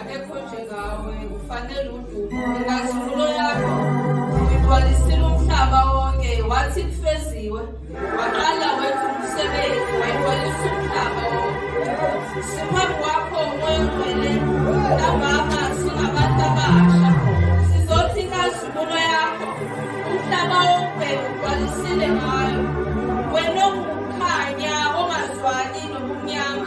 akekho njengawe ufanele udumo inkazimulo yakho uyigcwalisile umhlaba wonke wathi kufeziwe waqala wenza umsebenzi wayigcwalisa umhlaba wonke siphambi kwakho umoya ongcwele ntambama singabantu abasha sizothi inkazimulo yakho umhlaba wonke ugcwalisile ngayo wena ongukukhanya ongazwani nobumnyama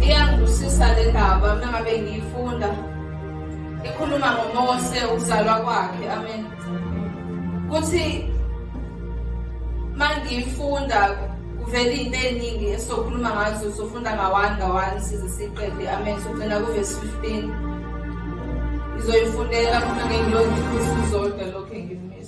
Iyangishisa le ndaba mina ngabe ngiyifunda ikhuluma ngoMose ukuzalwa kwakhe amen kuthi mangiyifunda kuvela into eziningi esizokhuluma ngazo sofunda ngawani ngawani size siqede amen sogcina kuvesi 15 ngizoyifundela mina ngengilokhu izodwa lokhu engimisa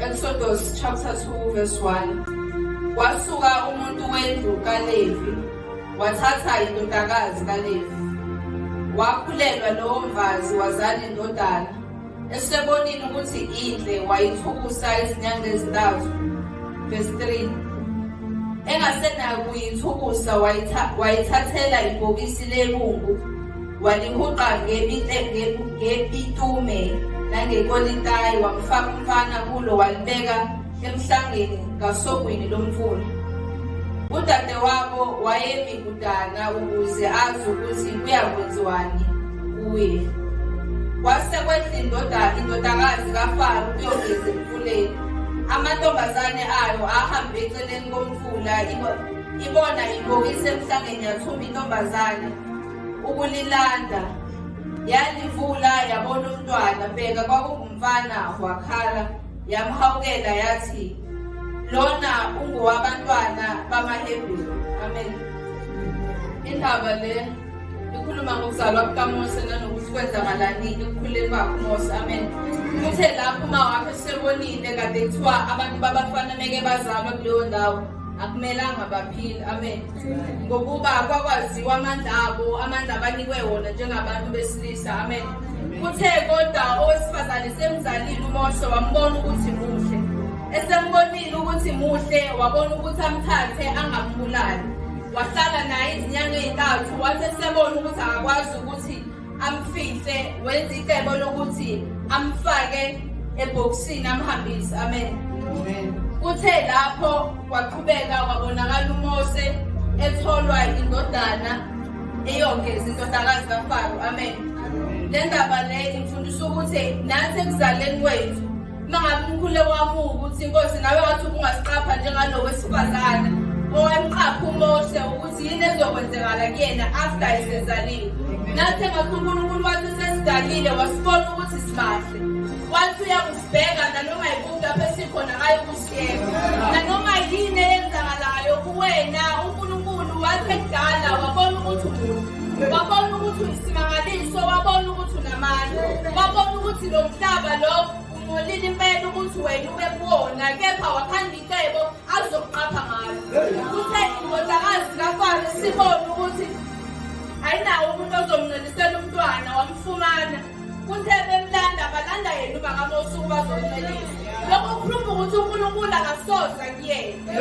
Exodus chapter 2 verse 1 Wasuka umuntu wendlu kaLevi wathatha indodakazi kaLevi wakhulelwa lowo mfazi wazala indodana esebonile ukuthi indle wayithukusa izinyanga ezintathu verse 3 engasenayo kuyithukusa wayithathela ibhokisi lebungu walihuqa ngebitume nangekolitayi wamfaka umfana kulo walibeka emhlangeni ngasogwini lomfula. Udadewabo wayemi kudana ukuze azi ukuthi kuyakwenziwani kuye. Kwase kwehla indoda indodakazi kaFaro kuyogeza emfuleni. Amantombazane ayo ahambe eceleni komfula ibona ibokisa emhlangeni yathumba intombazane ukulilanda yalivula yabona umntwana bheka kwakungumfana wakhala Yamhawukela yathi, Lona ungowabantwana bamaHebheru. Amen. Indaba le ikhuluma ngokuzalwa kukaMose nanokuthi kwenzakalani ekukhuleni kwakhe uMose. Amen. Uthe lapho uma wakhe sebonile kade kuthiwa abantu babafana meke bazalwa kuleyo ndawo akumelanga baphile. Amen. ngokuba kwakwaziwa amandla abo amandla abanikwe wona njengabantu besilisa amen kuthe kodwa owesifazane semzalile umoshe wambona ukuthi muhle esembonile ukuthi muhle wabona ukuthi amthathe angambulali wahlala naye izinyanga ezintathu wathi esebona ukuthi akakwazi ukuthi amfihle wenze icebo lokuthi amfake ebhokisini amhambise amen kuthe lapho kwaqhubeka kwabonakala umose etholwa indodana eyongeza indodakazi kafaro amen le ndaba le imfundisa ukuthi nathi ekuzaleni kwethu Mangabe umkhuleko wami ukuthi inkosi nawe wathi ubungasiqapha njengalo wesifazane owamqapha uMoshe ukuthi yini ezokwenzekala kuyena after esezalile. Nathe ngakho uNkulunkulu wathi sesidalile wasibona ukuthi sibahle. Wathi uyakusibheka nanoma yikuphi lapho esikhona ayokusi nanoma yini eyenzakalayo kuwena unkulunkulu wasekudala wabona ukuthi umubi wabona ukuthi uyisimangaliso wabona ukuthi unamandla wabona ukuthi lo mhlaba lo ungcolile impela ukuthi wena ube kuwona kepha wakhanda intebo azokuqapha ngayo kuthe indodakazi kafaro sibone ukuthi ayinawo umuntu ozomncelisela umntwana wamfumana Kuthe bemlanda balanda yena ubakamosi ukuba azomncelisa. Lokho kukhuluma ukuthi uNkulunkulu akasoza kuyena.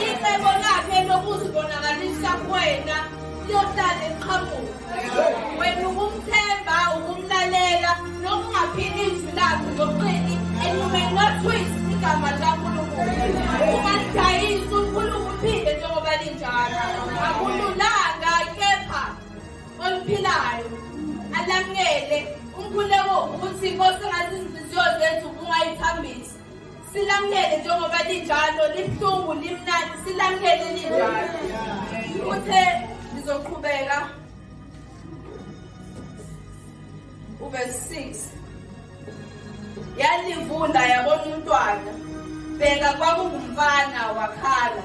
Icebo lakhe lokuzibonakalisa kuwena liyohlale liqhamuka. Wena ukumthemba, ukumlalela, nokungaphili izwi lakhe ngoqini and you may not twist igama likaNkulunkulu. Ungalidayisi uNkulunkulu uphinde njengoba linjalo. Akululanga kepha oluphilayo alamukele umkhuleko ukuthi inkosi ngathi izinhliziyo zethu kungayithambisa silamukele njengoba linjalo libuhlungu limnandi silamukele linjalo uthe ngizoqhubeka uverse 6 yalivunda yabona umntwana bheka kwakungumfana wakhala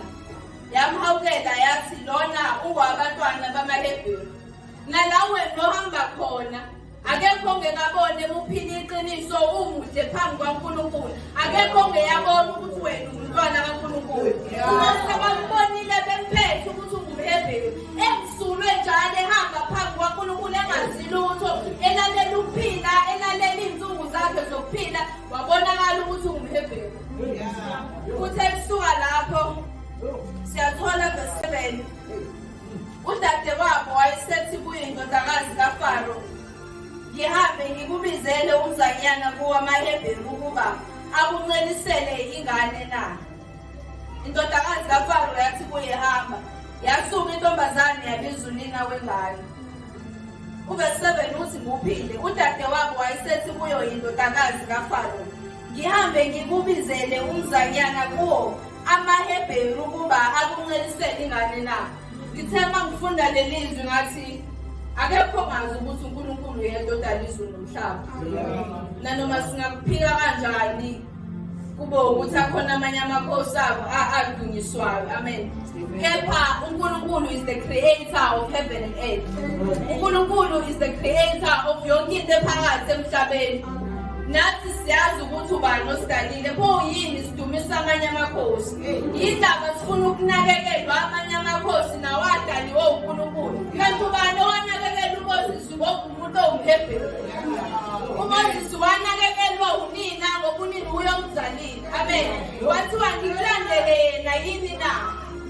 yamhawukela yathi lona ungowabantwana bamaHebheru nalawe nohamba khona akekho ongekabone emuphila iqiniso umuhle phambi kwaNkulunkulu akekho ongeyabona ukuthi wena ungumntwana kaNkulunkulu uma sebakubonile bemphethe ukuthi ungumHebheru emsulwe njalo ehamba phambi kwaNkulunkulu engazi lutho elalela ukuphila elalela iy'nsuku zakhe zokuphila wabonakala ukuthi ungumHebheru kuthe kusuka lapho siyathola ngesebeni udadewabo wayesethi kuye indodakazi kafaro ngihambe ngikubizele umzanyana kuwamahebheru ukuba akuncelisele ingane na indodakazi kafaro yathi kuye hamba yasuka intombazane yabiza unina wengane uvesi 7 uthi nguphile udadewabo wayesethi kuyo yindodakazi kafaro ngihambe ngikubizele umzanyana kuwo amahebheru ukuba akuncelisele ingane na ngithe uma ngifunda leli zwi ngathi akekho ngazi ukuthi unkulunkulu yedwa odala izulu nomhlaba nanoma singakuphika kanjani kube ukuthi akhona amanye amakhosi abo adunyiswayo amen kepha unkulunkulu is the creator of heaven and earth unkulunkulu is the creator of yonke into ephakathi emhlabeni Nathi siyazi ukuthi ubani osidalile pho yini sidumisa amanye amakhosi. Yindaba sifuna ukunakekelwa amanye amakhosi nawo adaliwe uNkulunkulu. Kanti ubani owanakekela uMoses ngokumuntu owumhebheru? UMoses wanakekelwa unina ngokunini uyomzalile. Amen. Wathiwa ngikulandele yena yini na?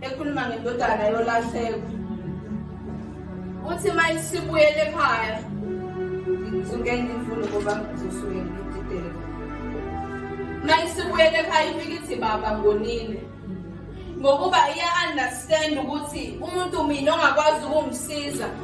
ekhuluma ngendodana yolahleko uthi uma sibuyele ekhaya ngisuke ngifuna ukuba ngisuke ngididele uma sibuyele ekhaya ifike ithi baba ngonile ngokuba iya-understand ukuthi umuntu mina ongakwazi ukungisiza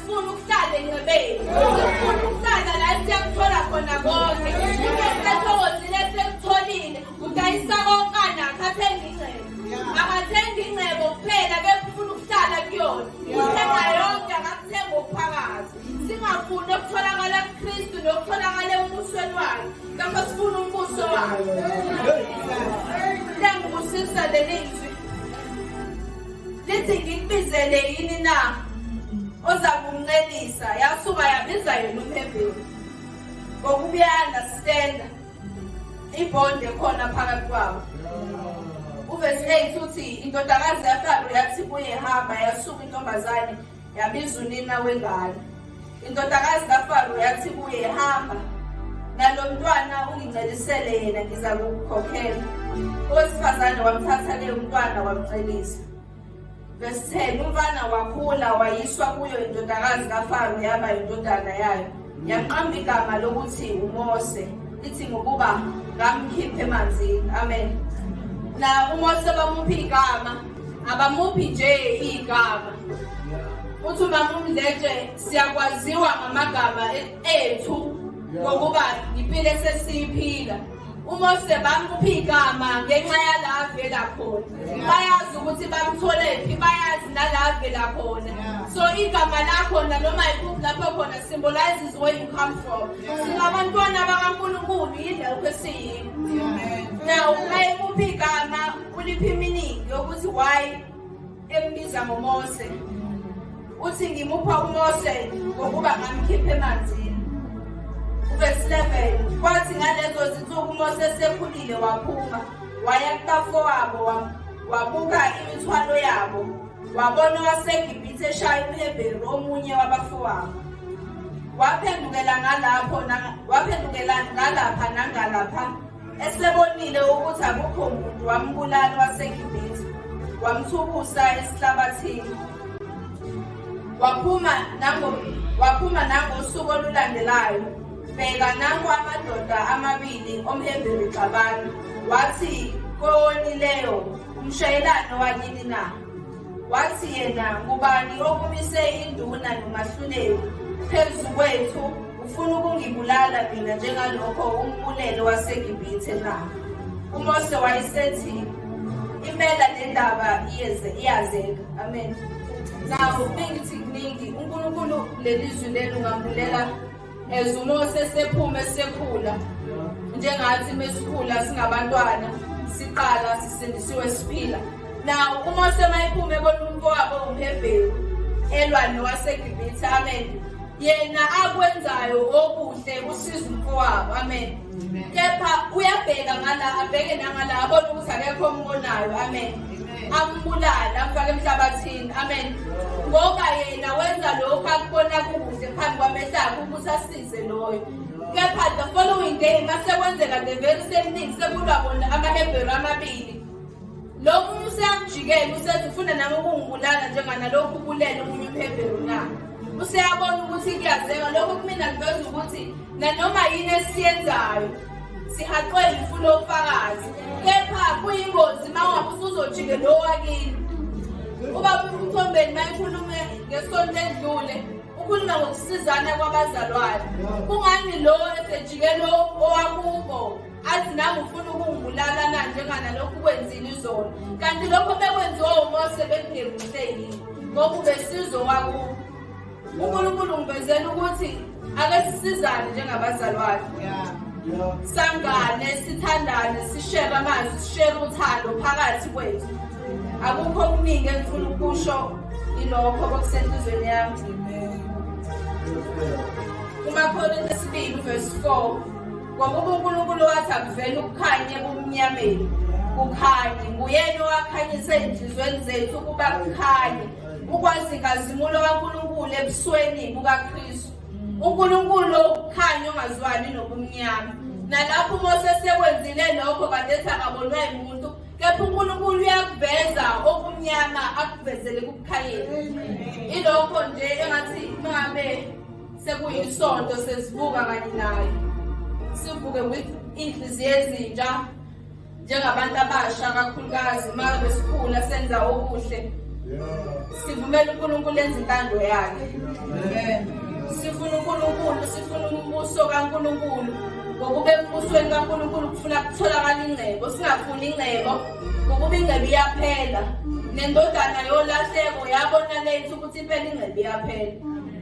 Sifuna ukuhlala encebeni. Sifuna ukuhlala la esiyakuthola khona konke. Into esithokozile esikutholile udayisa konke anakho athenga ingcebo. Akathengi ingcebo kuphela kepha ufuna ukuhlala kuyona. Uthenga yonke akakuthenga okuphakathi. Singafuni okutholakala kuKristu nokutholakala embusweni wakhe. Ngakho sifuna umbuso wakhe. Lengibusisa leli lithi ngikubizele yini na oza kumncelisa yasuka yabiza yena umhebheni ngokubuyanda sitenda ibonde khona phakathi kwabo uvesi 8 uthi indodakazi yafalo yathi kuye hamba yasuka intombazane Yabiza unina wengane. Indodakazi kaFaro yathi kuye hamba nalo mntwana ungincelisele yena ngiza kukukhokhela. Owesifazane wamthatha ke umntwana wamcelisa. Verse 10 umfana wakhula wayiswa kuyo indodakazi kaFaro yaba indodana yayo. Yaqamba igama lokuthi uMose lithi ngokuba ngamkhiphe emanzini. Amen. Na uMose bamuphi igama, abamuphi nje igama. Uthi uma umdletshe siyakwaziwa ngamagama ethu ngokuba impilo esesiyiphila. umose bamupha igama ngenxa yala avela khona bayazi ukuthi bamtholephi bayazi nala avela khona so igama lakhona noma yikuphi lapho khona symbolizes where you come from singabantwana bakankulunkulu yilokho esiyini now uma ekuphi igama uliphi iminingi yokuthi why Embiza ngoMose. Uthi ngimupha uMose ngokuba ngamkhiphe emanzini. Verse 11 kwathi ngalezo zinsuku uMose esekhulile waphuma waya kubafowabo wabuka imithwalo yabo wabona waseGibhithe eshaya umHebheru omunye wabafowabo waphendukela ngalapho waphendukela ngalapha nangalapha Esebonile ukuthi akukho muntu wambulala waseGibhithe, wamthukusa esihlabathini. Waphuma nango waphuma nangosuku olulandelayo. Bheka nanku amadoda amabili omhembeli xabana, wathi kowonileyo, umshayelani wakini na? wathi yena ngubani okumise induna nomahluleli phezu kwethu ufuna ukungibulala mina njengalokho umbulelo wasegibithe na umose wayesethi impela le ndaba iyazeka amen nawo kuningi kuningi unkulunkulu leli zwi leli ungambulela As uMose sephume sekhula njengathi mesikhula singabantwana siqala sisindisiwe siphila nawo uMose mayiphume ebona umfowabo umHebheru elwa nowaseGibithe amen yena akwenzayo okuhle usiza umfowabo amen kepha uyabheka ngala abheke nangala abone ukuthi akekho ombonayo amen ambulale amfake emhlabathini amen ngoba yena wenza lokhu akubona kukuhle phambi kwamehlo akhe ukuthi asize loyo kepha the following day masekwenzeka the very same thing sekulwa bona amahebheru amabili lo muntu useyamjikela usethi ufuna nami ukungibulala njenganalokhu ubulele omunye uhebheru na useyabona ukuthi kuyazeka lokho kumina kuveza ukuthi nanoma yini esiyenzayo sihaqwe ngifuna ofakazi kepha kuyingozi uma ungabe usuzojike lo wakini ubaba umthombeni mayikhulume ngesonto edlule ukhuluma ngokusizana kwabazalwane kungani lo esejike lo owakubo athi nami ufuna ukungibulala na njenganalokhu kwenzile izolo kanti lokho bekwenziwa umose bekungemuhle yini ngoba ubesizo wakubo uNkulunkulu ngivezela ukuthi ake sisizane njengabazalwane sangane sithandane sishere amazwi sishere uthando phakathi kwethu akukho okuningi engifuna ukusho ilokho kwakusenhlizweni yami kumakhonto esibili uvesi 4 ngokuba unkulunkulu wathi akuvele ukukhanye kumnyameni kukhanye nguyena owakhanyisa ezinhlizweni zethu ukuba kukhanye ukwazi inkazimulo kaNkulunkulu ebusweni bukaKristu uNkulunkulu okukhanya ongazwani nobumnyama nalapho uMose sekwenzile lokho kadethi akabonwa yimuntu kepha uNkulunkulu uyakuveza okumnyama akuvezele kukukhayeni ilokho nje engathi mangabe sekuyisonto sesivuka kanye nayo sivuke with inhliziyo ezintsha njengabantu abasha kakhulukazi uma besikhula senza okuhle sivumela unkulunkulu enza intando yakhe sifuna unkulunkulu sifuna umbuso kankulunkulu ngokuba embusweni kankulunkulu kufuna kutholakala ingcebo singafuni ingcebo ngokuba ingcebo iyaphela nendodana yolahleko yabona lethu ukuthi impela ingcebo iyaphela